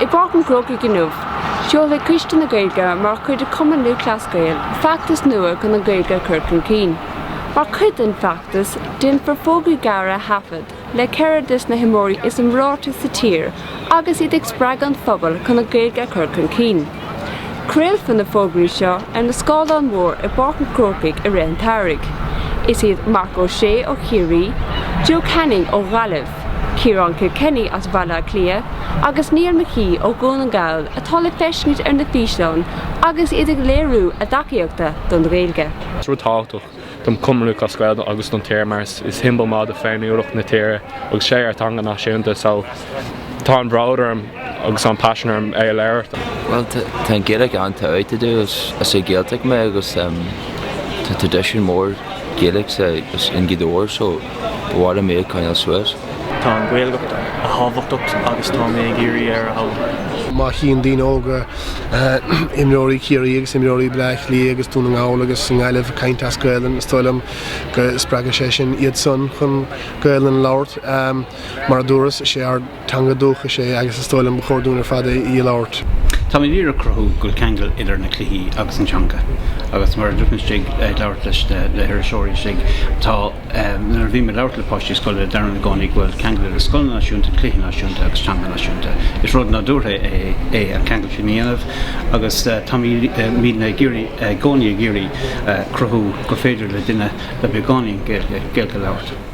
I bPáirc an Chrócaigh inniu, seolfaidh Coiste na Gaeilge mar chuid de Chumann Lúthchleas Gael feachtas nua chun an Ghaeilge a chur chun cinn. Mar chuid den feachtas, déanfar fógraí gearra a thaifead le ceithre des na himreoirí is iomráití sa tír agus iad ag spreagadh an phobail chun an Ghaeilge a chur chun cinn. Craolfar na fógraí seo ar na scáileáin mhóra i bPáirc an Chrócaigh i rith an tsamhraidh. Is iad Marc Ó Sé ó Chiarraí, Joe Canning ó Ghaillimh, Ciarán Kilkenny as Bhaile Átha Cliath agus Neil McGee ó Dhún na nGall atá le feiscint ar na físeáin agus iad ag léiriú a dtacaíochta don Ghaeilge. Is rud tábhachtach dom comhrá as Gaeilge agus don tír mar is siombal maith de féiniúlacht na tíre agus is é ár teanga náisiúnta so tá an-bhród orm agus an-phaisean orm é a labhairt. Bhuel tá an Ghaeilge an-tábhachtach dom is as an Ghaeltacht mé agus tá traidisiún mór Gaeilge istigh i nGaoth Dobhair so B'fhearr liom é a choinneáil suas. Tá an Ghaeilge an-tábhachtach agus tá mé ag iarraidh í a fhoghlaim. Má chíonn daoine óga imreoirí Ciarraí agus imreoirí Bleá Cliath agus Dún na nGall agus an Ghaillimh ag caint as Gaelainn, is dóigh liom go spreagfaidh sé sin iad san chun Gaelainn a labhairt. Mar a dúras, is é ár. Teanga dúchais é agus is dóigh liom ba chóir dúinn ar fad í a labhairt. Táim ag iarraidh cruthú go bhfuil ceangal idir na cluichí agus an teanga agus mar a dúirt mé istigh ag labhairt leis na le hiriseoirí istigh tá ehm nuair a bhím ag labhairt le páistí scoile deirim i gcónaí go bhfuil ceangal idir scoil náisiúnta, cluichí náisiúnta agus teanga náisiúnta. Is rud nádúrtha é an ceangal sin a dhéanamh agus táimid muidne ag iarraidh i gcónaí ag iarraidh cruthú gur féidir le duine le beagáinín Gaeilge Gaeilge a labhairt.